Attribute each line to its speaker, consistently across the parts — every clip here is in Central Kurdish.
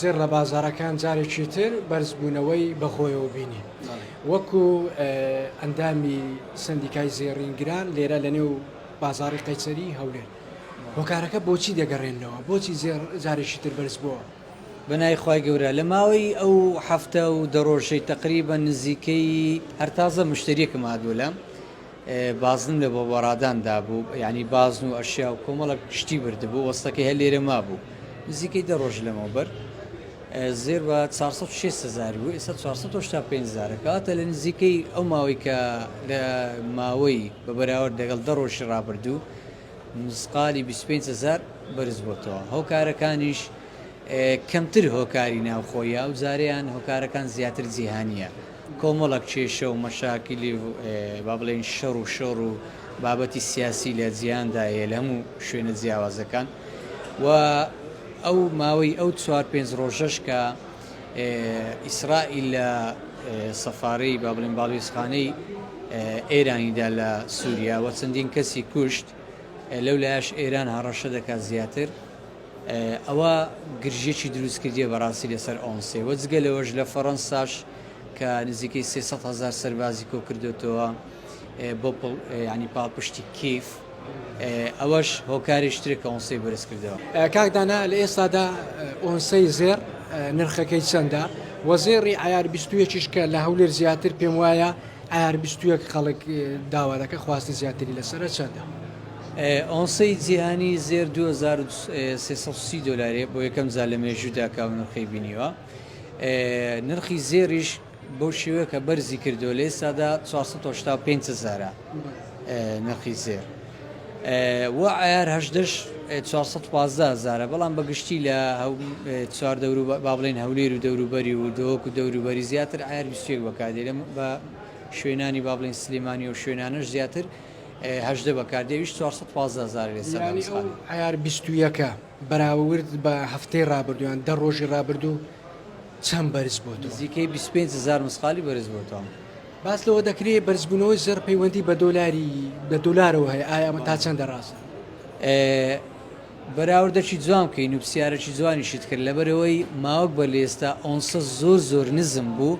Speaker 1: زێڕ لە بازاڕەکان جارێکی تر بەرزبوونەوەی بەخۆیەوە بینی. وەکو ئەندامی سندیکای زێڕینگران لێرە لە نێو بازاڕی قەیسەری هەولێر هۆکارەکە بۆچی دەگەڕێنەوە بۆچی زێڕ جارێکی تر بەرز بووە؟ بەناوی خوای
Speaker 2: گەورە لە ماوەی ئەو هەفتە و دە ڕۆژەی تەقریبەن نزیکەی هەر تازە مشتەریەکم هاتبوو لام بازنم لە بۆبۆڕادان دابوو، یانی بازن و ئەشیا و کۆمەڵێک شتی بردبوو، وەستەکەی هەر لێرە مابوو. نزیکەی دە ڕۆژ لەمەوبەر زێر بە چوار سەد و شێست هەزار بوو، ئێستا چوار سەد و هەشتا و پێنج هەزارە. کەواتە لە نزیکەی ئەو ماوەی کە لە ماوەی بە بەراورد لەگەڵ دە ڕۆژی ڕابردوو مسقالی بیست و پێنج هەزار بەرز بۆتەوە. هۆکارەکانیش کەمتر هۆکاری ناوخۆیە، ئەو جارەیان هۆکارەکان زیاتر جیهانییە. کۆمەڵێک کێشە و مەشاکیلی و با بڵێین شەڕ و شۆڕ و بابەتی سیاسی لە جیهاندا هەیە لە هەموو شوێنە جیاوازەکان و ئەو ماوەی ئەو چوار پێنج ڕۆژەش کە ئیسرائیل لە سەفارەی با بڵێن باڵوێزخانەی ئێرانیدا لە سووریا و چەندین کەسی کوشت لەو لایەش ئێران هەڕەشە دەکات زیاتر ئەوە گرژیەکی دروست کردیە بەڕاستی لەسەر ئۆنسێ وە جگە لەوەش لە فەڕەنساش کە نزیکەی سێ سەد هەزار سەربازی کۆ کردوتەوە بۆ ینی پاڵپشتی کیف ئەوەش هۆکاریش ترێک کە ئۆنسەی بەرز کردەوە کاکدانا لە
Speaker 1: ئێستادا ئۆنسەی زێر نرخەکەی چەندە وە زێڕی عیار 21 کە لە هەولێر زیاتر پێم وایە عیار 21 خەڵک داوا دەکە خواستی زیاتری لەسرە چەندە؟ ئۆنسەی
Speaker 2: جیهانی زێر دوو هەزار و سێ سەد و سی دۆلارێ بۆ یەکەم جار لە مێژوودا کە ئەو نرخەی بینیوە. نرخی زێڕیش بەو شێوەیە کە بەرزی کردووە لە ئێستادا چوار سەد و هەشتا و پێنج هەزارە نرخی زێر. و عەیار هەژدەش چوار سەد و پازدە هەزارە بەڵام بە گشتی لە چوار دەور و با بڵێین هەولێر و دەوروبەری و دۆک و دەوروبەری زیاتر عەیار بیست و یەک بەکاردێت بە شوێنانی با بڵێین سلێمانی و شوێنانەش زیاتر هەژدە بەکاردێ ویش چوار سەد پازدە هەزارە لێ سەردان یانی ئەو سخان. عەیار بیست
Speaker 1: و یەکە بەراوورد بە هەفتەی ڕابردوو یان دە ڕۆژی ڕابردوو چەند بەرز بۆتەوە؟ نزیکەی بیست و پێنج هەزار
Speaker 2: مسقالی بەرز بۆتەوە. باس لەوە
Speaker 1: دەکرێ بەرزبوونەوەی زێڕ پەیوەندی بە دۆلاری بە دۆلارەوە هەیە ئایا ئەمە تا چەندە ڕاستە؟ ئێ
Speaker 2: بەراوردەکی جوان بکەی نوپسیارەکی جوانیشت کرد لەبەرئەوەی ماوەک بەر لە ئێستا ئۆنسە زۆر زۆر نزم بوو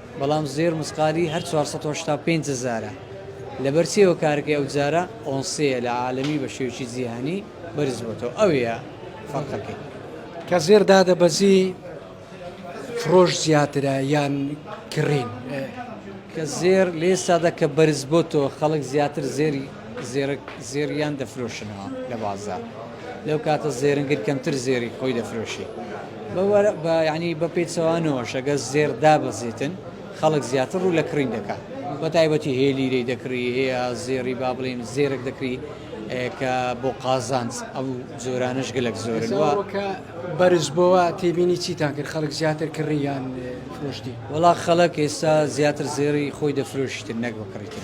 Speaker 2: بەڵام زێر مسقالی هەر چوار سەد و هەشتا و پێنج هەزارە، لەبەر چیەوە کارەکەی ئەو جارە ئۆنسەیە لە عالەمی بە شێوەکی جیهانی بەرز بۆتەوە ئەوەیە فەرقەکەی. کە زێر
Speaker 1: دادەبەزی فرۆش زیاترە یان کڕین؟
Speaker 2: کە زێر لێسادا کە بەرز بۆتەوە خەڵک زیاتر زێری زێرک زێریان دەفرۆشنەوە لە بازار. لەو کاتە زێرنگر کەمتر زێری خۆی دەفرۆشی ینی بە پێچەوانەوە شەگە زێر دابەزیتن خەڵک زیاتر ڕوو لە کڕین دەکات بە تایبەتی هێلیرەی دەکڕی هەیە زێری با بڵین زێرەک دەکری کە بۆ قازانج ئەو جۆرانش گەلک زۆرەوە بەرز
Speaker 1: بۆەوە تێبینی چیتان کرد خەڵک زیاتر کڕیان
Speaker 2: فرۆشتی وڵا
Speaker 1: خەڵک
Speaker 2: ئێستا زیاتر زێری خۆی دەفرۆشتن نەک بکڕیتن.